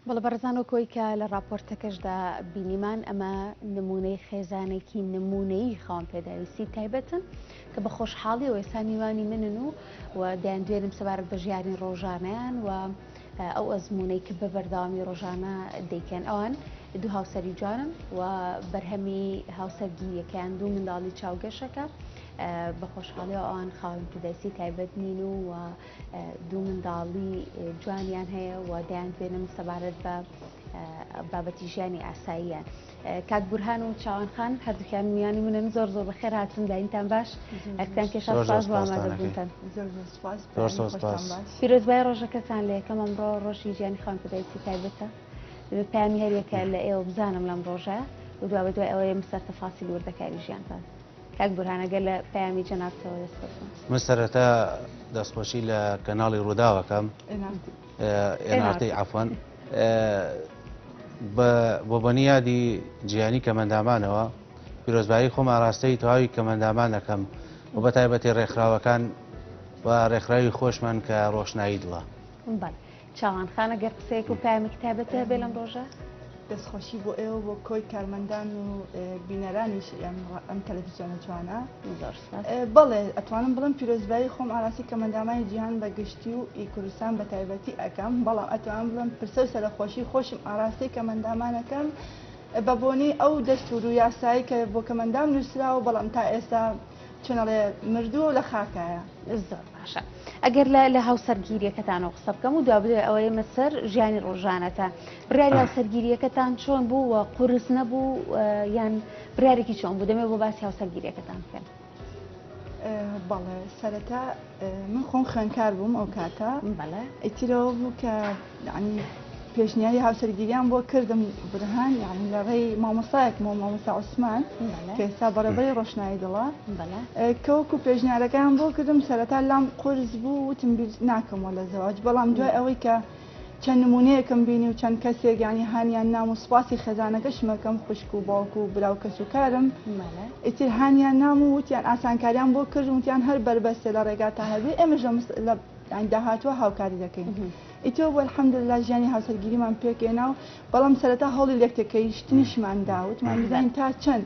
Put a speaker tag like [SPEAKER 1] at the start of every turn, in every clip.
[SPEAKER 1] بەڵێ بەڕێزان وەک ئەوەی کە لە ڕاپۆرتەکەشدا بینیمان ئەمە نموونەی خێزانێکی نموونەیی خاوەن پێداویستی تایبەتن کە بە خۆشحاڵیەوە ئێستا میوانی منن و و دەیان دوێنم سەبارەت بە ژیانی ڕۆژانیان و ئەو ئەزمونەی کە بە بەرداوامی ڕۆژانە دەیکەن ئەوان دوو هاوسەری جوانن و بەرهەمی هاوسەرگیریەکەیان دوو منداڵی چاوگەشەکە بە خۆشحاڵی ئەوان خاوەن پێداویستی تایبەت نین و و دوو منداڵی جوانیان هەیە و دەیان دوێنم سەبارەت بە بابەتی ژیانی ئاساییان کاک بورهان و چاوان خان هەردووکیان میانی منن زۆر زۆر بە خێر هاتون داینتان باش ئەکتان کێشا ساز بۆمادەبوونتان پیرۆزبای ڕۆژەکەتان لە یەکەم ئەمڕۆ ڕۆژی ژیانی خان پدایسی تایبەتە پامی هەریەکە لە ئێوە بزانم لەم ڕۆژە و دوا بە دوای ئەوەیە مسەر تەفاسی لوردەکاری ژیانتان کاک بورهان ئەگەر لە پەیامی جەنابتەوە دەست خۆش بم. من سەرەتا
[SPEAKER 2] دەستخۆشی لە کەناڵی ڕووداوەکەم ئێنارتی عفوان بۆ بەنیادی جیانی کەمەندامانەوە پیرۆزبایی خۆم ئاراستەی تەواوی کەمەندامان دەکەم و بە تایبەتی ڕێکخراوەکان و ڕێکخراوی خۆشمان کە ڕۆشنایی دڵە. چاوان
[SPEAKER 1] خان ئەگەر قسەیەک و پامێکی تایبەتت هەبێ لەم ڕۆژە؟ دەستخۆشی بۆ
[SPEAKER 3] ئێوە بۆ کۆی کارمەندان و بینەرانیش ئەم تەلەڤیزیۆنە جوانە بەڵێ ئەتوانم بڵم پیرۆزبایی خۆم ئاراسی کە مندامانی جیهان بە گشتی و ئی کوردستان بە تایبەتی ئەەکەم بەڵام ئەتوان بڵم پرسە و سەرخۆشی خۆشم ئاراسی کە مندامانەکەم بە بۆنەی ئەو دەستور و یاسایی کە بۆ کەمەندام نووسراوە بەڵام تا ئێستا چون ئەڵێ مردووە و لە خاکایە. زۆر باشە
[SPEAKER 1] ئەگەر لە لە هاوسەرگیریەکەتانەوە قسە بکەم و دوا بدوێ ئەوە ئێمە سەر ژیانی ڕۆژانەتە بڕیاری هاوسەرگیریەکەتان چۆن بوو و قورس نەبوو یان بریارێکی چۆن بوو دەمێ بۆ باسی هاوسەرگیریەکەتان بکەن
[SPEAKER 3] بەڵێ سەرەتا من خۆم خوێنکار بووم ئەو کاتە ئەیترەوە بوو کە ینی پێشنیاری هاوسەرگیریان بۆ کردم برهان یعنی لە ڕێی مامۆسایەک مۆ مامۆسا عوسمان کە ئێستا بەڕێبەری ڕۆشنایی دڵە کەوەکو پێشنیارەکان بۆ کردم سەرەتا لام قرس بوو وتم بیر ناکەمەوە لە زەواج بەڵام دوای ئەوەی کە چەند نمونەیەکم بینی و چەند کەسێک یانی هانیان نام و سوپاسی خێزانەکەشم ئەکەم خوشک و باوک و برا و کەس و کارم ئیتر هانیان نام و وتیان ئاسانکاریان بۆ کرد و وتیان هەر بەربەستە لە ڕێگاتان هەبێ ئێمەش لە یانی داهاتووە هاوکاری دەکەین ئیتر وە الحمدللە ژیانی هاوسەرگیریمان پێکهێنا و بەڵام سەرەتا هەوڵی لێکتێکەیشتنیشمان دا وتمان بزانین تا چەند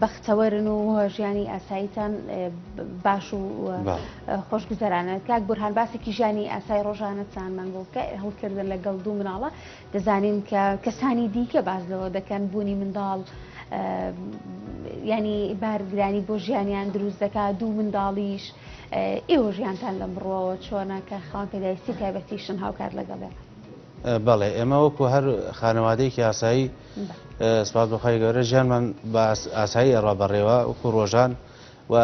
[SPEAKER 1] بەختەوەرن و ژیانی ئاساییتان باش و خۆشگوزەرانە کاک بورهان باسێکی ژیانی ئاسای ڕۆژانەتانمان بۆ بکە هەڵکردن لەگەڵ دوو مناڵە دەزانین کە کەسانی دیکە باز لەوە دەکەن بوونی منداڵ ینی بارگرانی بۆ ژیانیان دروست دەکا دوو منداڵیش ئێوە ژیانتان لە بڕەوە چۆنە کە خاڵ پێداویستی تایبەتیشن هاوکات لەگەڵێ بەڵێ
[SPEAKER 2] ئێمە وەکو هەر خانەوادەیەکی ئاسایی سپاس بەخوای گەورە ژیانمان بە ئاسایی ئەڕا بەڕێوە وەکو ڕۆژان و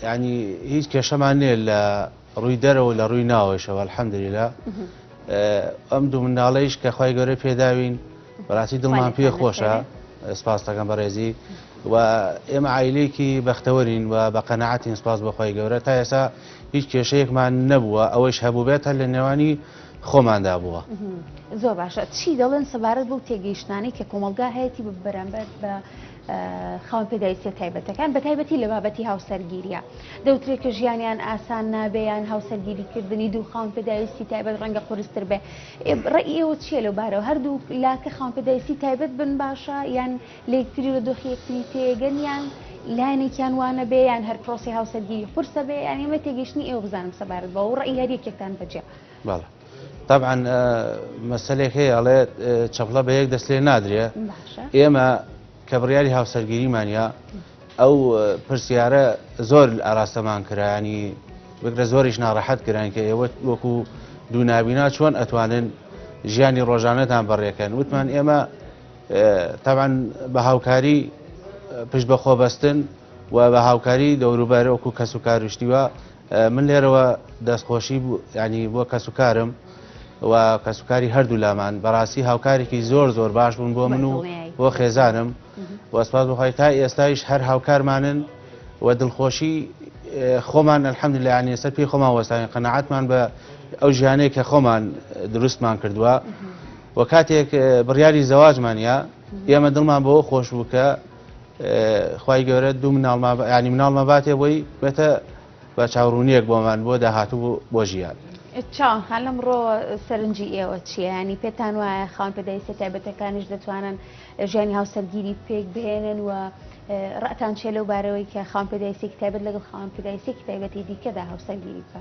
[SPEAKER 2] ینی هیچ کێشەمان نێ لە ڕووی دەرەوە لە ڕووی ناوەشەوە الحەمدللا ئەم دوو مناڵەیش کە خی گەورە پێداوین بەڕاستی دڵمان پێ خۆشە سپاستەکەم بەڕێزی و ئێمە ئایلێکی بەختەوەرین و بە قەنەعاتین سپاس بەخوای گەورە تا ئێسا هیچ کێشەیەکمان نەبووە ئەوەش هەبوو بێت هەر لە نێوانی خۆماندا بووە زۆر باشە
[SPEAKER 1] چی دەڵێن سەبارەت بەو تێگەیشتانەی کە کۆمەلگا هەیەی بە بەرامبەر بە خاون پێداویستە تایبەتەکان بە تایبەتی لە بابەتی هاوسەرگیریە دەوترێت کە ژیانیان ئاسان نابێیان هاوسەرگیریکردنی دوو خاون پێداویستی تایبەت ڕەنگە قرستر بێ ڕێ ئێوە چیە لەو بارەوە هەردوو لاکە خاون پێداویستی تایبەت بن باشە یان لە یەکتری و دۆخی یەکتری تێگەن یان لایەنێکیان وانەبێ یان هەر پرۆسی هاوسەرگیری قورسە بێ یان ئێمە تێگەیشتنی ئێوە بزانم سەبارەت بەوە و ڕێی هەر یەکێکتان بەجێ بەڵێ
[SPEAKER 2] طبعا مەسلێک هەیە ئەڵێ چەپڵە بە یەک دەست لێ نادرێ ئێمە کە بڕیاری هاوسەرگیریمانە ئەو پرسیارە زۆر ئاراستەمان کرانی بگرە زۆریش ناڕەحەت کران کە ئێوە وەکو دوو نابینا چۆن ئەتوانن ژیانی ڕۆژانەتان بەڕێکەن وتمان ئێمە تەبعەن بە هاوکاری پشت بە خۆ بەستن و بە هاوکاری دەوروبەر وەکو کەس و کاروشتیوە من لێرەوە دەستخۆشی ینی بۆ کەس و کارم و کەسوکاری هەردوو لامان بەڕاستی هاوکارێکی زۆر زۆر باش بوون بۆ من و بۆ خێزانم وەسپاس بخوای تا ئێستایش هەر هاوکارمانن و دڵخۆشی خۆمان الحمد لەیانی سەر پێی خۆمان وەستانی قەنەعاتمان بە ئەو ژیانەیە کە خۆمان دروستمان کردووە وە کاتێک بڕیاری زەواجمان یا ئێمە دڵمان بەوە خۆش بوو کە خی گەورە دوو مناڵماانی مناڵمە باتێ بۆی بێتە بە چاوڕونیەک بۆمان بۆ داهاتوو بۆ ژیان چاوان خان لەم
[SPEAKER 1] ڕۆ سەرنجی ئێوە چیانی پێتان وایە خاون پێداویستە تایبەتەکانیش دەتوانن ژیانی هاوسەرگیری پێک بهێنن و ڕەتان چێ لەو بارەوەی کە خاون پێداویستێکی تایبەت لەگەڵ خاون پێداویستێکی تایبەتی دیکەدا هاوسەرگیری بکە.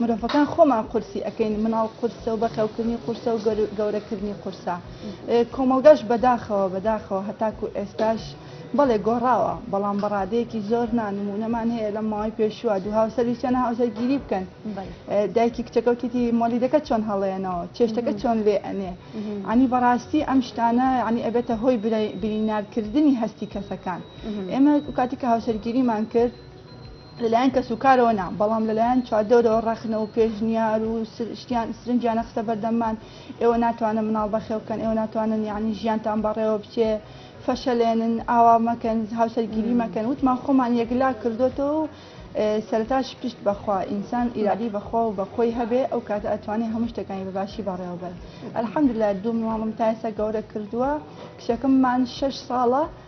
[SPEAKER 3] مرۆڤەکان خۆمان قورسی ئەکەین مناڵ قورسە و بەخێوکردنی قورسە و گەورەکردنی قورسە کۆمەڵگەش بەداخەوە بەداخەوە هەتاکو ئێستاش بەڵێ گۆڕاوە بەڵام بەڕادەیەکی زۆر نانمونەمان هەیە لە ماوەی پێشووە دوو هاوسەرویستیان هاوسەرگیری بکەن دایکی کچەکەوتیتی مۆلیدەکە چۆن هەڵێنەوە چێشتەکە چۆن لێ ئەنێ ئەنی بەڕاستی ئەم شتانە ینی ئەبێتە هۆی برینارکردنی هەستی کەسەکان ئێمە کاتی کە هاوسەرگیریمان کرد لەلایەن کەسوکارەوە نا، بەڵام لەلایەن چواردەورەوە ڕەخنە و پێشنیار و شتیان سرنجیان نەخستە بەردەممان، ئێوە ناتوانن مناڵ بەخێو بکەن، ئێوە ناتوانن یەعنی ژیانتان بەڕێوە بچێ، فەشەلێنن، ئاوا مەکەن، هاوسەرگیری مەکەن، وتمان خۆمان یەکلا کردۆتەوە و سەرەتاش پشت بەخوا، ئینسان ئیرادەی بەخوا و بەخۆی هەبێ ئەو کاتە ئەتوانێ هەموو شتەکانی بەباشی بەڕێوە بەرێ، الحمدللە دوو مناڵم تا ئێستا گەورە کردووە، کچەکەممان شەش ساڵە،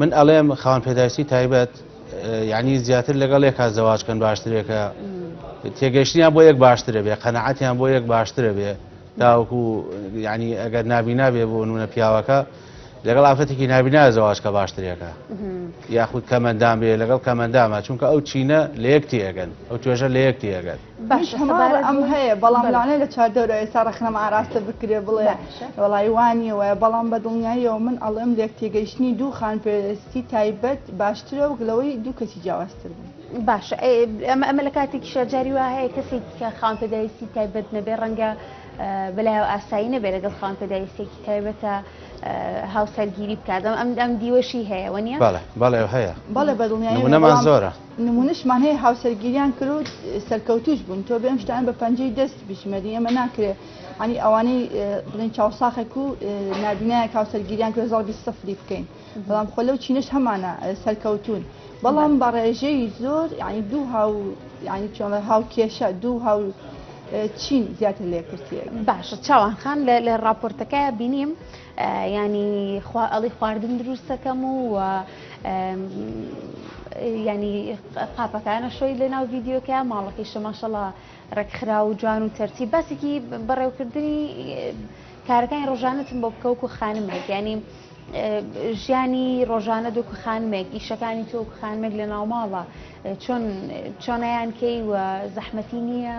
[SPEAKER 2] من ئەڵێم خاوەن پێداویستی تایبەت یعنی زیاتر لەگەڵ یەکا زەواجکەن باشترێکە تێگەشتیان بۆ یەک باشترە بێ قەنەعەتیان بۆ یەک باشترە بێ تاوەکو ینی ئەگەر نابینا بێ بۆ نونە پیاوەکە لەگەڵ ئافرەتێکی نابینا زەواجکە باشترێکە یاخود کەمەندان بێ لەگەڵ کەمەندامە چونکە ئەو چینە لە یەک تێگەن ئەو توێژە لە یەک تێگەن باشە سەبارەت
[SPEAKER 3] ئەم هەیە بەڵام لەوانەیە لە چواردەورە ئێستا ڕەخنەم ئاراستە بکرێ بڵێ باشە. وەڵای وانیە وایە بەڵام بە دڵنیاییەوە من ئەڵێم لێک تێگەیشتنی دوو خانپێرستی تایبەت باشترە وەک لەوەی دوو کەسی جیاوازتر بوون. باشە
[SPEAKER 1] ئێ، ئەمە ئەمە لە کاتێکی شارجاری وا هەیە کەسێک کە خاوەن پێداویستی تایبەت نەبێ ڕەنگە اه، بەلایەوە ئاسایی نەبێ لەگەڵ خاوەن پێداویستێکی تایبەتە اه، هاوسەرگیری بکات ئەم ئەم ئەم دیوەشی هەیە وە نیە؟ بەڵێ بەڵێ هەیە
[SPEAKER 2] بەڵێ بە دڵنیاییەوە نمونەمان
[SPEAKER 3] بەڵام زۆرە
[SPEAKER 2] نمونەشمان هەیە
[SPEAKER 3] هاوسەرگیریان کرد و سەرکەوتوش بوون تۆ بێم شتان بە پەنجەی دەست بژمێری ئەمە ناکرێ ئەنی ئەوانەی بڵین چاوساخێک و نابینایە هاوسەرگیریان کرد زڵ بی سفری بکەین بەڵام خۆ لەو چینش هەمانە سەرکەوتون بەڵام بە ڕێژەی زۆر ینی دوو هاو ینی چۆڵە هاو کێشە دوو هاو چین زیاتر لێکرتێ باشە چاوان خان
[SPEAKER 1] لە ڕاپۆرتەکە بینیم یانی خوا ئەڵی خواردن دروستەکەم و یانی قاپەکانە شۆی لە ناو ڤیددیوکە ماڵەکەی شەماشەڵا ڕێکخرا و جوان و تەرتی باسێکی بەڕێوکردنی کارەکانی ڕۆژانەتم بۆ بکەوک و خانمێک ینی ژیانی ڕۆژانە دوک خانمێک ئیشەکانی تۆ خانمێک لە ناوماڵە چۆن چۆنیان کەی و زەحمەتی نییە؟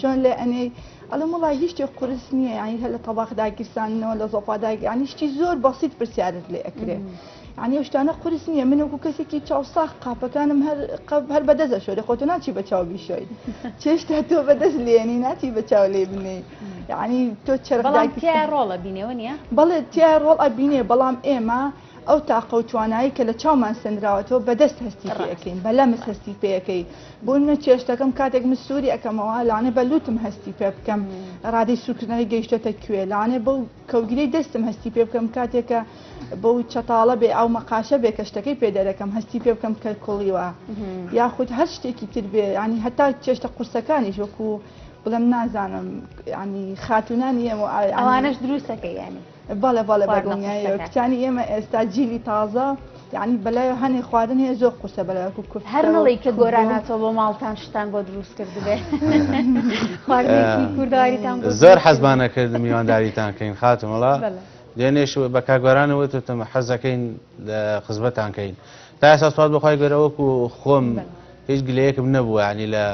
[SPEAKER 3] چۆن لێ ئەنێی ئەڵم وڵی هیشتی قرس نییە ینی هە لە تەواخ داگیرسانەوە لە زۆپا داگی ینی شتی زۆر بەسییت پرسیارت لێ ئەکرێت. عنی شتانە قرس نییە من وەکو کەسێکی چاوساخ قاپەکانم هەر قەب هەر بەدەزە شۆێ خۆتە ناچی بە چاو بیشۆی چێشتا تۆ بەدەست لێنی ناچی بە چاو لێ بنی ینی تۆ چرەڵام
[SPEAKER 1] تیا ڕۆڵە بینەوە نیە بەڵێ تیا ڕۆڵ
[SPEAKER 3] ئەبینێ بەڵام ئێمە ئەو تاقە و توانایی کە لە چاومان سەندراوەتەوە بە دەست هەستی پێ ئەکەین بە لەمس هەستی پێ ئەکەی بۆ منە چێشتەکەم کاتێک من سووری ئەکەمەوە لەوانەیە بە لووتم هەستی پێ بکەم ڕادەی سوورکردنەوەی گەیشتۆتە کوێ لەوانەیە بەو کەوگرەی دەستم هەستی پێ بکەم کاتێکە بەو چەتاڵە بێ ئەو مەقاشە بێ کە شتەکەی پێ دەرەکەم هەستی پێ بکەم کە کوڵیوە یاخود هەر شتێکی تر بێ ینی هەتا چێشتە قورسەکانیش وەکو بڵێم نازانم ینی خاتونانی ئەوانش دروستەکە
[SPEAKER 1] یانی بەڵێ بەڵێ بە
[SPEAKER 3] دڵنیایەوە کچانی ئێمە ئێستا جیلی تازە یعنی بەلای هەنێ خواردن هەیە زۆر قورسە بەلایکو کورد هەرڵی کە گۆراناتەوە
[SPEAKER 1] بۆ ماڵتان شتان بۆ دروست کردبێ کورداریتان زۆر حەزمانە
[SPEAKER 2] کرد میوانداریتان کەین خاتمەڵا دێنێش بە کاگۆرانەوە تۆتەمە حەزەکەین لە خزمەتانکەین تا ئێستا سوات بەخوای گەرەوەکو خۆم هیچ گلەیەکم نەبووە ینی لە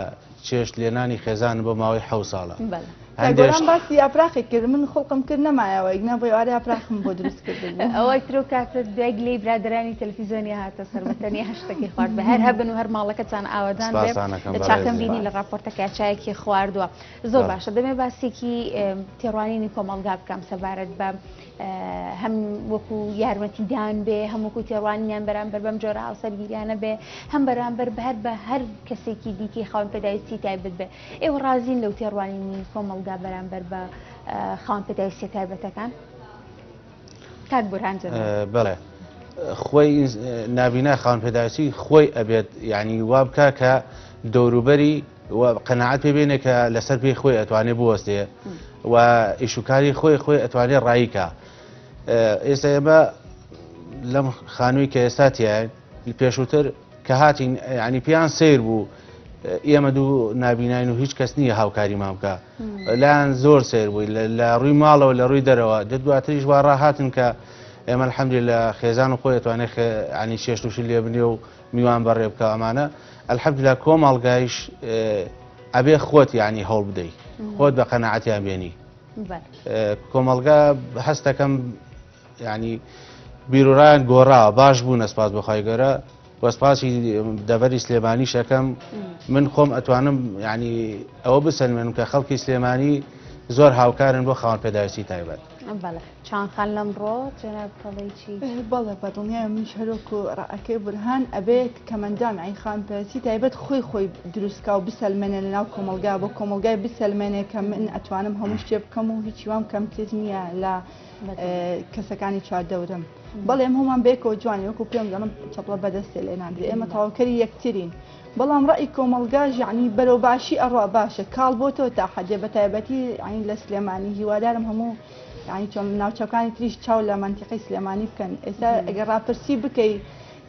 [SPEAKER 2] چێشت لێنانی خێزانم بۆ ماوەی حەوت ساڵە بەلە کە هەندێک گۆران شت باسی
[SPEAKER 3] یاپراخێک کرد من خوڵقم کرد نەمایەوە ئیگنا بۆ ئێوارە یاپراخم بۆ دروست کردبوو ئەوە ترۆ کاتە
[SPEAKER 1] دوای گلەی برادەرانی تەلەفیزۆنیا هاتە سەر بە تەنیا شتەکەی خوارد بە هەر هەبن و هەر ماڵەکەتان ئاوەدان بێ سپاسان ئەکەم لە چاکەم بەڕێزیان بینی لە ڕاپۆرتەکە چایەکی خواردووە زۆر بەڵێ باشە دەمێ باسێکی ئێم، تێڕوانینی کۆمەڵگا بکەم سەبارەت بە هەم وەکو یارمەتیدان بێ هەم وەکو تێڕوانینیان بەرامبەر بەم جۆرە هاوسەرگیریانە بێ هەم بەرامبەر بە هەر بە هەر کەسێکی دیکەی خاون پێداویستی تایبەت بێ ئێوە ڕازین لەو تێڕوانینی کۆمەڵگا بەرامبەر بە خاون پێداویستە تایبەتەکان کاک بورهان بڵێ
[SPEAKER 2] خۆی نابینا خاون پێداویستی خۆی ئەبێت یعنی وابکە کە دەوروبەری و قەناعەت پێ بێنێ کە لەسەر پێی خۆی ئەتوانێ بوەستێ و ئیشوکاری خۆی خۆی ئەتوانێ ڕاییکە ئێستا ئێمە لەم خانووی کە ئێستا تیایە پێشووتر کە هاتین ینی پێیان سیر بوو ئێمە دوو نبینین و هیچ کەس نییە هاوکاری مامکە لایەن زۆر سیر بووی لە ڕووی ماڵەوە لە ڕووی دەرەوە دە دواتریش وا ڕاهاتن کە ئێمە حەمدی لە خێزان و خۆی توانێت ینی شێشتوشی لێ بنێ و میوان بەڕێ بکە ئەمانە الحمدللە کۆمەڵگایش ئەبێ خۆت یعنی هەوڵ بدەیت خۆت بە قەنەعەتیان بێنی کۆمەڵگا هەستەکەم ینی بیرورایان گۆڕا باش بوو نەسپاس بەخوای گەرە وەسپاسی دەبەری سلێمانی شەکەم من خۆم ئەتوانم ینی ئەوە بسەلمێنم کە خەڵکی سلێمانی زۆر هاوکارن بۆ خاوەن پێداویستی تایبەت چان خان
[SPEAKER 1] لەمڕۆ جەناب کەڵی چی؟ بەڵێ بەدڵنیایە
[SPEAKER 3] منیش هەرۆک و ڕەعەکەی بورهان ئەبێ کەمەندان عیخان پەرەسی تایبەت خۆی خۆی دروستکا و بسەلمێنێ لە ناو کۆمەلگا بۆ کۆمەلگای بسەلمێنێ کە من ئەتوانم هەموو شتێ بکەم و هیچی وام کەمتر نییە لە کەسەکانی چواردەورم بەڵێم هەمان بێکەوە جوانی وەکو پێم دەڵم چەپڵە بەدەستێ لێ ناندرێ ئێمە تاوکەری یەکترین بەڵام ڕێی کۆمەلگا ژانی بەرەو باشی ئەڕوا باشە کاڵ بۆ تۆ تا حەدێ بە تایبەتی عین لە سلێمانی هیوادارم هەموو یعنی چۆن ناوچەکانی تریش چاو لە منتیقی سلێمانی بکەن ئێستا ئەگەر ڕاپرسی بکەی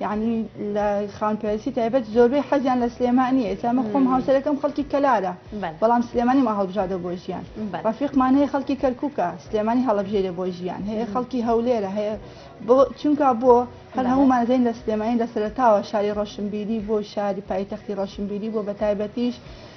[SPEAKER 3] یعنی لە خاون پێویستی تایبەت زۆربەی حەزیان لە سلێمانی ئێسامە خۆم هاوسەرەکەم خەڵکی کەلارە بەڵام سلێمانی ما هەڵبژادە بۆ ژیان ڕفیقمان هەیە خەڵکی کەرککە سلێمانی هەڵبژێرە بۆ ژیان هەیە خەڵکی هەولێرە هەیە بۆ چونکە بۆ هەر هەمومان زین لە سلێمانی لە سەرتاوە شاری ڕەشنبیری بۆ شاری پایتەختی ڕەشنبیری بۆ بە تایبەتیش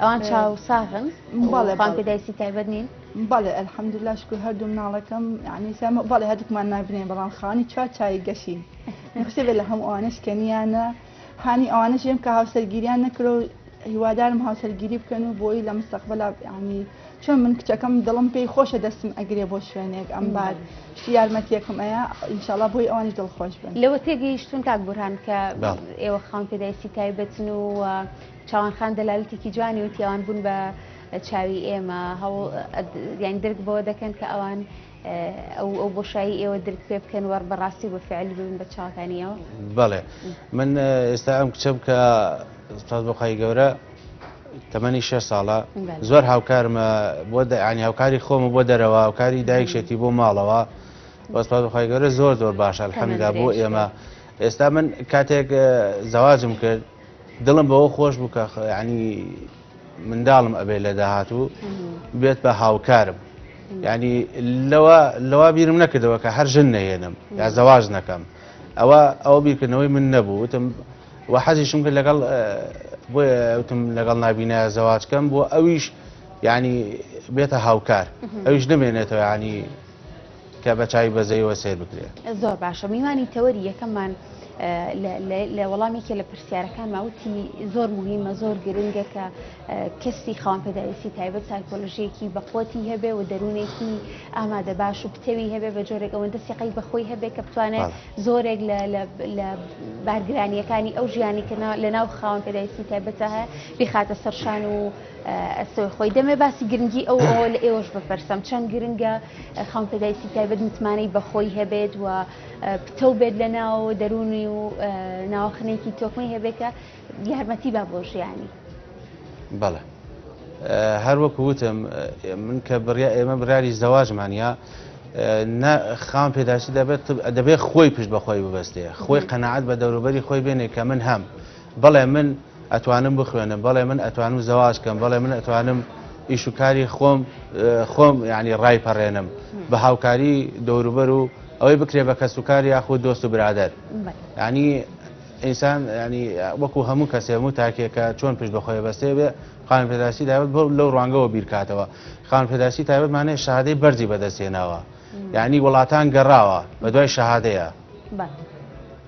[SPEAKER 1] ئەوان چاو ساغن بەڵێ بان پێدایسی تایبەت نین بەڵێ ئەلحەمدللا
[SPEAKER 3] شکر هەردوو مناڵەکەم ینی سامە بەڵێ هەردووکمان نابنێ بەڵام خانی چوار چای گەشین نخسێ بێ لە هەموو ئەوانش کەنیانە هانی ئەوانش ێم کە هاوسەرگیریان نەکرۆ هیوادارم هاوسەرگیری بکەن و بۆی لە مستەقبلا ینی چۆن من کچەکەم دڵم پێی خۆشە دەستم ئەگرێ بۆ شوێنێک ئەم بار یارمەتیەکم ئەیە ئینشاالله بۆی ئەوانش دڵخۆش بن لەوە تێگەیشتون تاک
[SPEAKER 1] بورهان کە ئێوە خاون پێدایسی تایبەتن و چاوان خان دەلالەتێکی جوانی وتی ئەوان بوون بە چاوی ئێمە هەوڵ یان درک بەوە دەکەن کە ئەوان ئەو ئەو بۆشایی ئێوە درک پێ بکەن وەڕ بەڕاستی بە فعل ببن بە چاکانیەوە بەڵێ
[SPEAKER 2] من ئێستا ئەم کچەم کە ساز بۆخوای گەورە تەمەنی شێ ساڵە زۆر هاوکارمە بۆ دەیانی هاوکاری خۆمە بۆ دەرەوە هاوکاری دایکشێتی بۆ ماڵەوە وەسپاز بەخوای گەورە زۆر زۆر باشە الحەمدا بۆ ئێمە ئێستا من کاتێک زەواجم کرد دڵم بەوە خۆش بوو کە ینی منداڵم ئەبێت لە داهاتوو بێت بە هاوکارم ینی لەوە لەوا بیرم نەکردەوە کە هەر ژن نەهێنم یا زەواز نەکەم ئەوە ئەو بیرکردنەوەی من نەبوو وتم و حەزیشم کرد لەگەڵ بۆیە وتم لەگەڵ نبینە زەواجکەم بۆ ئەویش ینی بێتە هاوکار ئەویش نمێنێتەوە ینی
[SPEAKER 1] کە بە
[SPEAKER 2] چاوی بەزەیەوە
[SPEAKER 1] سەیر
[SPEAKER 2] بکرێت. زۆر باشە میوانی
[SPEAKER 1] تەوەری
[SPEAKER 2] یەکەممان
[SPEAKER 1] لە وەڵامێکی لە پرسیارەکان ماوتی زۆر مهمە زۆر گرنگە کە کەسی خاوەن پێداویستی تایبەت سایکۆلژیەکی بەقوتی هەبێ و دەروونێکی ئامادە باش و پتەوی هەبێ بە جۆرێک ئەوەندە سیقی بەخۆی هەبێ کە بتوانێت زۆرێک لە بارگرانیەکانی ئەو ژیانی کە لە ناو خاوەن پێداویستی تایبەتە هەیە بخاتە سەرشان و ئەستۆی خۆی دەمێ باسی گرنگی ئەو ئەوە لە ئێوەش بپرسم چەند گرنگە خاون پێدایستی تایبەت متمانەی بەخۆی هەبێت و پتە و بێت لە ناو دەروونی و ناوەخنێکی تۆکمەی هەبێت کە یارمەتی با بۆ ژیانی بەڵێ
[SPEAKER 2] هەر وەکو وتم من کە بڕیا ئێمە براری زەواجمانە خاون پێداسی دەبێت دەبێت خۆی پشت بەخۆی ببەستێ خۆی قەنەعات بە دەوروبەری خۆی بێنێ کە من هەم بەڵێ من ئەتوانم بخوێنم بەڵێ من ئەتوانم زەواج کەم بەڵێ من ئەتوانم ئیش و کاری خۆم خۆم ینی ڕای پەڕێنم بە هاوکاری دەوروبەر و ئەوەی بکرێ بە کەس و کار یاخود دۆست و برادر ینی ئینسان ینی وەکو هەموو کەسێ هەموو تاکێکە چۆن پشت بەخۆی بەستێ بێ خان پێداسی تایبەت بۆ لەو ڕوانگەوە بیرکاتەوە خان پێداسی تایبەتمانێ شادەی بەرزی بەدەستێناوە یعنی وڵاتان گەڕاوە بە دوای شەهادەیە.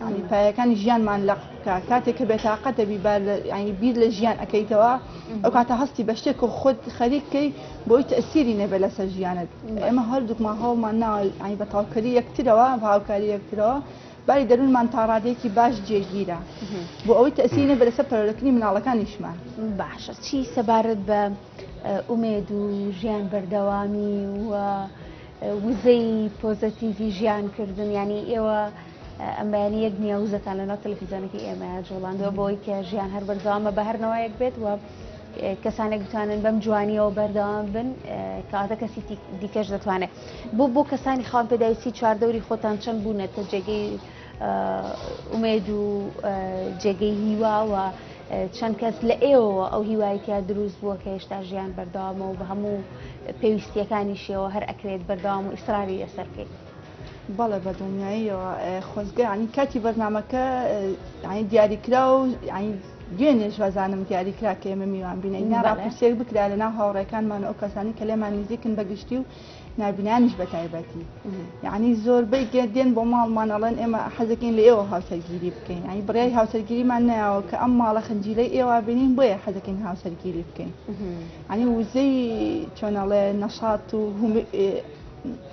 [SPEAKER 3] یانی پایەکانی ژیانمان لەق بکە کاتێک کە بێتاقەت دەبی بار ینی بیر لە ژیان ئەەکەیتەوە ئەو کاتە هەستی بە شتێک و خۆت خەریککەی بۆی تەسیری نەبێ لەسەر ژیانت ئێمە هەردووکمان هەوڵمان ناوە ئەین بە تاوکەری یەکترەوە هاوکاری یەکترەوە باری دەروونمان تا ڕادێکی باش جێگیرە بۆ ئەوەی تەسیری نەبێ لەسەر پەرۆلەکەنی مناڵەکانیشمان باشە چی
[SPEAKER 1] سەبارەت بە ئومێد و ژیان بەردەوامی و وزەی پۆزەتیڤی ژیانکردن ینی ئێوە ئەم بەیانی یەک نییە وزەتان لەناو تەلەفیزیۆنەکەی ئێمەیان جوڵاندوە بۆی کە ژیان هەر بەردەوامە بە هەر نەوەیەک بێت وە کەسانێک بتوانن بەم جوانیەوە بەردەوام بن کاتە کەسی دیکەش دەتوانێت بۆ بۆ کەسانی خاڵ پێداویستی چواردەوری خۆتان چەند بوونەتە جێگەی ئومێد و جێگەی هیواوە چەند کەس لە ئێوەوە ئەو هیوایتیا دروست بووە کە هێشتا ژیان بەردەوامەوە بە هەموو پێویستیەکانیشیەوە هەر ئەکرێت بەردەوام و ئیسراری لەسەر بکەیت بەڵێ
[SPEAKER 3] بەدڵنیاییەوە خۆزگە ینی کاتی بەرنمەکە ینی دیاریکرا و ینی دوێنێش وازانم دیاریکرا کە ئێمە میوان بینین ناڕاپرسێک بکرا لە ناو هاوڕێکانمان ئەو کەسانی کە لێمان نزیکن بەگشتی و نابینانیش بە تایبەتی یعنی زۆربەی دێن بۆ ماڵمان ئەڵێن ئێمە حەزەکەین لە ئێوە هاوسەرگیری بکەین ئەی بڕای هاوسەرگیریمان ناوە کە ئەم ماڵە خنجیلەی ئێوە بینین بۆیە حەزەکەین هاوسەرگیری بکەین ئەنی وزەی چۆنەڵێ نەشات و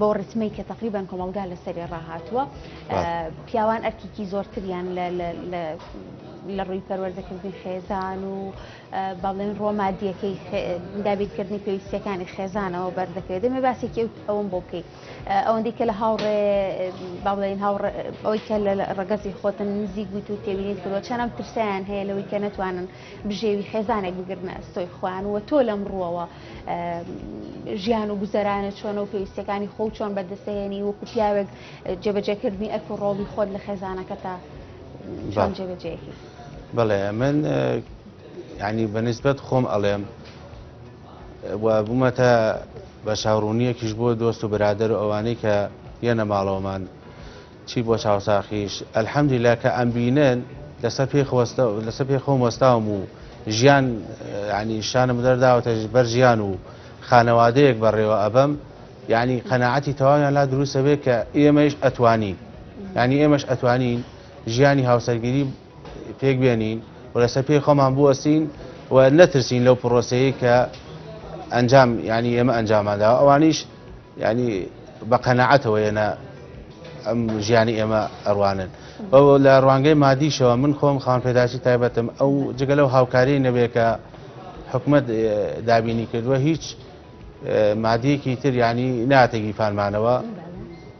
[SPEAKER 1] بەو ڕتمەی کە تقریبان کۆمەلگا لەسەری ڕاهاتووە پیاوان ئەرکیکی زۆرتریان لە ڕووی پەروەردەکردنی خێزان و بەڵێن ڕۆمادیەکەی دابیرکردنی پێویستەکانی خێزانەوە بەردەکرێت دەمێ باسێکی ئەوم بۆ بکەیت ئەوەندی کە لە هاوڕێ بەڵێن ئەوەی کە لە ڕگەزی خۆتن نزیک بوویت و تێبینیت کردوە چەنەم ترسیان هەیە لەوەی کە نتوانن بژێوی خێزانێک بگرنە ئەستۆی خۆیان و تۆ لەم ڕووەوە ژیان و گوزەرانە چۆنە و پێویستەکانی خۆ چۆن بەدەسەێنی وەکو پیاوێک جێبەجێکردنی ئەرک و ڕۆڵی خۆت لە خێزانەکە تا چۆن جێبەجێکی بڵێ
[SPEAKER 2] من ینی بەنسبەت خۆم ئەڵێم و بوومەتە بە چاڕوونیەکیش بۆ دۆست و برادەر و ئەوانەی کە یەنە ماڵەوەمان چی بۆ چاوساخیش الحمدللە کە ئەمبینن لەسەر پێی خۆستە لەسەر پێی خۆم وەستاوم و ژیان یعنی شانم دەرداوەتە بەر ژیان و خانەوادەیەک بەڕێوە ئەبەم یعنی قەنەعەتی تەواویان لا دروستە بێت کە ئێمەش ئەتوانین یعنی ئێمەش ئەتوانین ژیانی هاوسەرگیری پێک بێنین و لەسەر پێی خۆمان بوەستین و نەترسین لەو پرۆسەیە کە ئەنجام ینی ئێمە ئەنجاماندا ئەوانیش ینی بە قەنەعەتەوە ێنە ئەم ژیانی ئێمە ئەڕوانن بەو لە ڕوانگەی مادیشەوە من خۆم خان پێداچی تایبەتم ئەو جگە لەو هاوکاری نەبێکە حکومت دابینی کردووە هیچ مادیەکی تر ینی ناتێکی پانمانەوە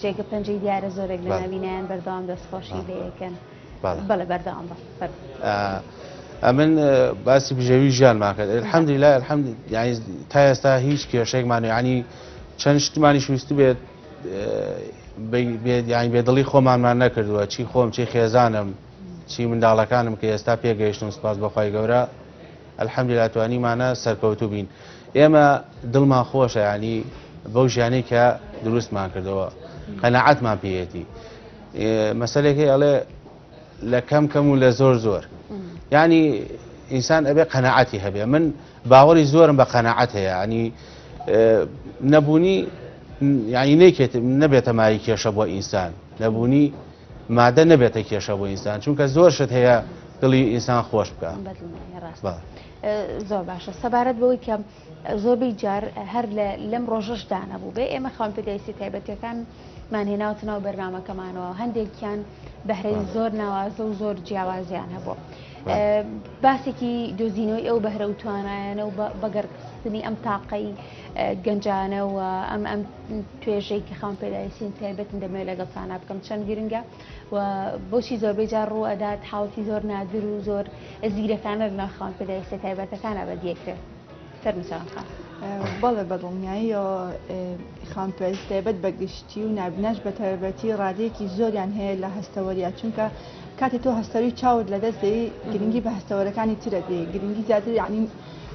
[SPEAKER 1] جێگە پەنجەی دیارە زۆرێک لە ناوینیان بەردەوام دەستخۆشی لەکەن بەڵێ بەردەوام
[SPEAKER 2] بە ئەمن باسی بژێوی ژیانمان کرد الحەمدی لا الحەمد تا ئێستا هیچ کێشێکمان ینی چەند شتمانی شوست بێت بێت یان بێدڵی خۆمانمان نەکردووە چی خۆم چی خێزانم چی منداڵەکانم کە ئێستا پێگەیشتم سپاس بەخوای گەورە الحمدللە توانیمانە سەرکەوتوو بین ئێمە دڵمان خۆشە یانی بەو ژیانەی کە دروستمان کردەوە قەنەعەتمان پێیەتی مەسلێکی ئەڵێ لە کەم کەم و لە زۆر زۆر ینی ئینسان ئەبێ قەنەعەتی هەبێ من باوەڕی زۆرم بە قەنەعەت هەیە ینی نەبوونی ینی نەکێت نەبێتە مای کێشە بۆ ئینسان نەبوونی مادە نەبێتە کێشە بۆ ئینسان چونکە زۆر شت هەیە دڵی ئینسان خۆش بکە زۆر
[SPEAKER 1] باشە سەبارەت بەوەی کە زۆربەی جار هەر لەم ڕۆژەش دانەبوو بێ ئێمە خاون پێداویستی تایبەتەکان مانهێناوتە ناو بەرنمەکەمانەوە هەندێکیان بەهرەی زۆر ناوازە و زۆر جیاوازیان هەبوو باسێکی دۆزینەوەی ئەو بەهرە و توانایانە و بەگەرخستنی ئەم تاقەی گەنجانەوە ئەم ئەم توێژەی کە خاون پێداویستین تایبەتن دەمەوێت لەگەڵ تانا بکەم چەند گرنگە و بۆچی زۆربەی جار ڕوو ئەدات حاڵەتی زۆر نادر و زۆر زیرەکانە لە ناو خاون پێداویستە تایبەتەکانە بە دیەکرێت فەرمچان خان. بەڵێ
[SPEAKER 3] بەدڵنیاییەوە خاون پێویست تایبەت بە گشتی و نابناش بە تایبەتی ڕادەیەکی زۆریان هەیە لە هەستەوەریا چونکە کاتی تۆ هەستەوی چاوت لەدەست دەی گرنگی بە هەستەوەرەکانی ترە دێ گرنگی زیاتر یعنی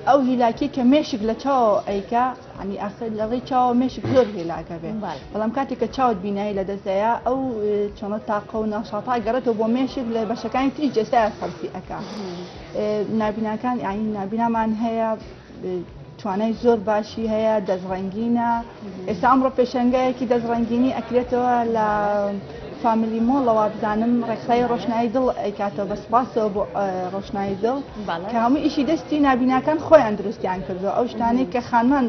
[SPEAKER 3] ئەو هیلاکی کە مێشک لە چاوەوە ئەیکا ینی ئاسە لە ڕێی چاوە مێشک زۆر هێلاکە بێ بەڵام کاتێک کە چاوت بینایی لە دەستەیە ئەو چۆنە تاقە و ناشاتا گەڕێتەوە بۆ مێشک لە بەشەکانی تری جەستای سەرفی ئەک نابیناکان ئاین نابینامان هەیە توانای زۆر باشی هەیە دەستڕەنگینە. ئێستا ئەمڕۆ پێشەنگایەکی دەست ڕەنگینی ئەکرێتەوە لە فامیلی مۆڵ لە وابزانم ڕێکخراوی ڕۆشنایی دڵ ئەیکاتەوە بە سپاسەوە بۆ ڕۆشنایی دڵ کە هەموو ئیشی دەستی نابیناکان خۆیان دروستیان کردو ئەو شتانەی کە خانمان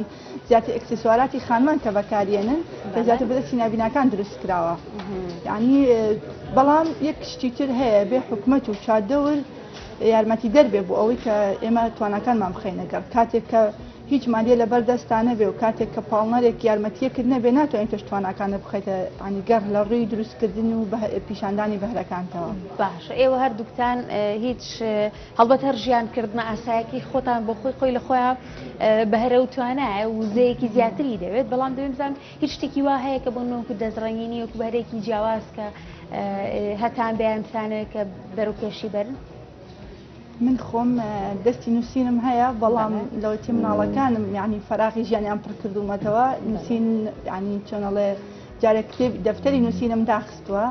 [SPEAKER 3] زیاتر ئەکسسواراتی خانمان کە بەکارێنن کە زیاتر بە دەستی نابیناکان دروست کراوە یعنی بەڵام یەک شتی تر هەیە بێ حکومت و چادەور یارمەتی دەربێ بۆ ئەوەی کە ئێمە توانەکانمان بخینەگەڕ کاتێک کە هیچ مادیە لەبەر دەستتا نەبێ و کاتێک کە پاڵنەرێک یارمەتیەکت نەبێ ناتوانی پێش تواناکانت بخەیتە یانی گەڕ لە ڕووی دروستکردن و پیشاندانی بەهرەکانتەوە. باشە ئێوە
[SPEAKER 1] هەردووکتان هیچ هەڵبەت هەر ژیان کردنە ئاسایەکی خۆتان بۆ خۆی خۆی لە خۆیان بەهرە و توانایە وزەیەکی زیاتری دەوێت بەڵام دەبێ بزان هیچ شتێکی وا هەیە کە بۆ نۆک و دەستڕەنگینی وەکو بەهرەیەکی جیاواز کە هەتان بەیان بتانەوێت کە بەرەو پێشی بەرن؟ من
[SPEAKER 3] خۆم دەستی نووسینم هەیە بەڵام لەوەتی مناڵەکانم یعنی فراغی ژیانیان پڕکردوومەتەوە نووسین ینی چۆنەڵێ جارێک کتێب دەفتەری نووسینم داخستووە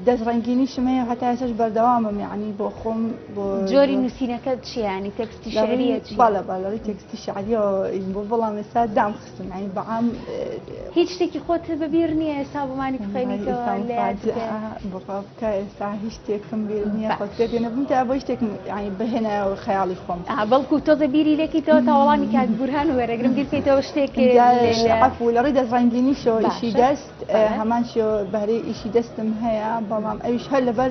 [SPEAKER 3] دەست ڕنگینیشم هەیە هەتا ێسش بەردەوامم یعنی بۆ خۆم بۆ جۆری نووسینەکە
[SPEAKER 1] چیانی تەکستی شعریە باڵە باڵەوەی
[SPEAKER 3] تەکستی شعریەوە بۆ بەڵام ئێستا دام سمعی بەعام هیچ شتێکی
[SPEAKER 1] خۆت بە بیر نییە ئێستا بۆمانی بخێنیتەوە
[SPEAKER 3] بڕاکە ئێستا هیچ شتێکم بیر نییە خۆتێنەبووم تا بۆ شتێکم بهێنە خەیاڵی خۆم بەڵکو تۆزە بیری
[SPEAKER 1] لێکیتەوە تا وەڵامی کات بورهان وەرەگرم بیرکەیتەوە شتێک عفو لە
[SPEAKER 3] ڕێی دەزڕنگینی شۆ ئیشی دەست هەمان شۆ بەرەی ئیشی دەستم هەیە بەڵام ئەوش هەر لەبەر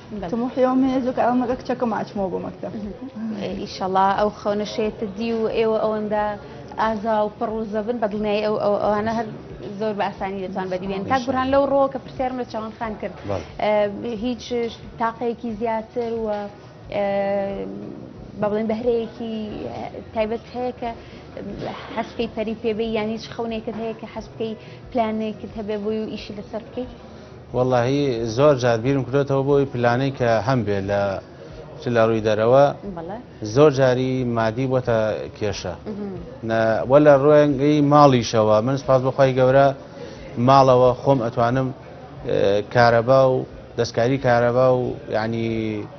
[SPEAKER 3] تموحی و مێزو کە ئەمەگە کچەکە ماچمەوە بۆ
[SPEAKER 1] مەکتەب ئیشەڵا
[SPEAKER 3] ئەو
[SPEAKER 1] خەونە شێتە
[SPEAKER 3] دی
[SPEAKER 1] و ئێوە ئەوەندە ئازا و پڕ و زەبن بە دڵنیایی ئەو ئەوانە هەر زۆر بە ئاسانی دەتوان بەدیێن تا گوران لەو ڕۆ کە پرسیارم لە چاوان خان کرد هیچ تاقەیەکی زیاتر و بە بڵێن بەهرەیەکی تایبەت هەیە کە حەسکەی پەری پێبێ یانی هیچ خەونێکت هەیە کە حەسبکەی پلانێکت هەبێ بۆی و ئیشی لەسەر بکەیت وەڵاهی
[SPEAKER 2] زۆر جار بیرم کرۆتەوە بۆی پلانەی کە هەم بێ لە چ لە ڕووی دەرەوە زۆر جاری مادی بۆتە کێشە وە لە ڕوێنگەی ماڵیشەوە من سپاس بەخوای گەورە ماڵەوە خۆم ئەتوانم کارەبا و دەستکاری کارەبا و ینی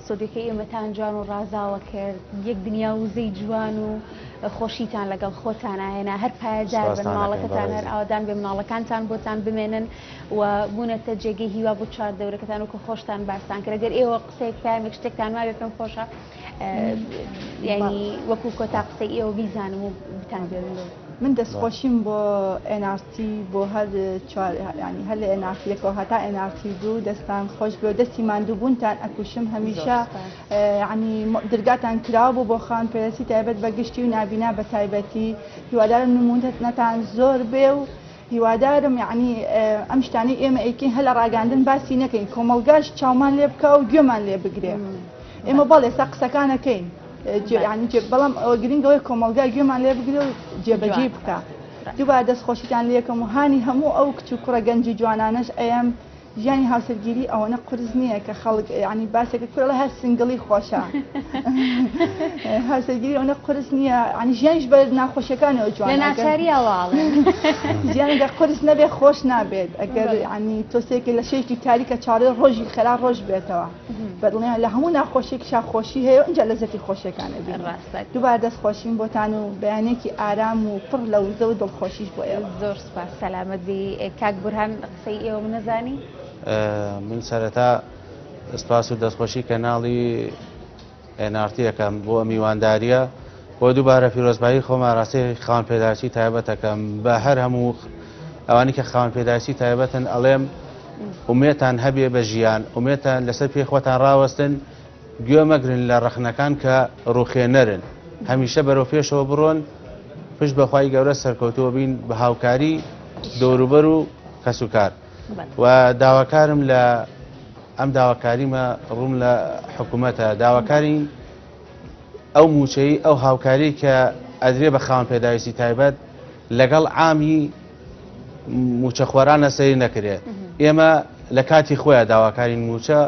[SPEAKER 1] ستۆدیۆکەی ئێمەتان جوان و ڕازاوە کرد، یەک دنیا وزەی جوان و خۆشیتان لەگەڵ خۆتانا هێنا، هەر پایەدار بن، ماڵەکەتان هەر ئاوەدان بێ، مناڵەکانتان بۆتان بمێنن و بوونەتە جێگەی هیوا بۆ چواردەورەکەتان وەکو خۆشتان باستان کرد، گەر ئێوە قسەیەک پەیامێک شتێکتان مابێ پێم خۆشە یانی وەکو کۆتا قسەی ئێوە بیزانم و بتان بێنم. من دەستخۆشیم
[SPEAKER 3] بۆ ئێن ئاڕ تی بۆ هەر چوار یانی هەر لە ئێن ئاڕ تی یەکەوە هەتا ئێن ئاڕ تی دوو دەستان خۆش بێ و دەستی ماندووبوونتان ئەکوشم هەمیشە یانی درگاتان کراوە بۆ بۆ خان پێرەسی تایبەت بە گشتی و نابینا بە تایبەتی هیوادارم نموونەتان زۆر بێ و هیوادارم یەعنی ئەم شتانەی ئێمە ئەیکەین هەر لە ڕاگەیاندن باسی نەکەین کۆمەڵگاش چاومان لێ بکا و گوێمان لێ بگرێ ئێمە بەڵێ ئێستا قسەکانەکەین جیانی جێ بەڵام ئەوە گرنگەوەی کۆمەڵگا گوێمان لێ بگرێ و جێبەجێ بکە دوبا دەست خۆشیتان لە یەکەم و هانی هەموو ئەو کچ و کوڕە گەنج و جوانانەش ئەم ژیانی هاوسەرگیری ئەوەنە قورس نییە کە خەڵک یعنی باسێکە کورە ئەڵێ هەر سنگڵی خۆشە هاوسەرگیری ئەوەنە قورس نییە یعنی ژیانیش بە ناخۆشیەکانەوە جوان لە ناچاریەوە ئەڵێن ژیانێکە قورس نەبێ خۆش نابێت ئەگەر یعنی تۆسێکی لە شەیەکی تاریکە چاڕێ ڕۆژی خەرا ڕۆژ بێتەوە بەدڵنیان لە هەموو ناخۆشێکیشا خۆشی هەیە ئەنج لە زەتی خۆشیەکانە بێن ڕاستە دووبار دەست خۆشیم بۆتان و بەیانێکی ئارام و پڕ لە وزە و دڵخۆشیش بۆ ئێوە زۆر سوپاس سەلامەت
[SPEAKER 1] بی کاک بورهان قسەی ئێوەم نەزانی.
[SPEAKER 2] من سەرەتا سپاس و دەستخۆشی کەناڵی NRT یەکەم بۆ میوانداریە بۆ دووبارە پیرۆزبایی خۆمان ڕاستی خاوەن پێداچی تایبەتەکەم بە هەر هەموو ئەوانی کە خاوەن پێداچی تایبەتن ئەڵێم ئومێتان هەبێ بە ژیان ئومێتان لەسەر پێ خۆتان ڕاوەستن گوێ مەگرن لە ڕەخنەکان کە ڕوخێنەرن هەمیشە بەرەو پێشەوە بڕۆن پشت بەخوای گەورە سەرکەوتووە بین بە هاوکاری دەوروبەر و کەسوکار و داواکارم لە ئەم داواکاریمە ڕووم لە حکوومەتە داواکاری ئەو موچەی ئەو هاوکاری کە ئەدرێ بە خاوەن پێداویستی تایبەت لەگەڵ عامی موچەخۆرانە سەیر نەکرێت ئێمە لە کاتی خۆیان داواکارین موچە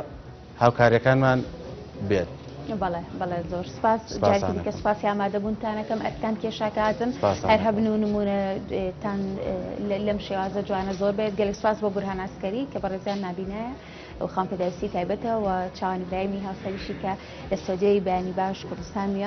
[SPEAKER 2] هاوکاریەکانمان بێت. بەڵێ بەڵێ
[SPEAKER 1] زۆر سپاس جارکی دیکە سپاسی ئامادەبوونتانەکەم ئەرکتان کێشاکە ئازم هەر هەبن و نمونەتان لەم شێوازە جوانە زۆر بێت گەلک سپاس بۆ بورهاناسکەری کە بەڕێزیان نبینایە و خام پێداویستی تایبەتەوە چاوانی برایمی هاوسەریشی کە لە سۆدیۆی بەیانی باش کوردستان میان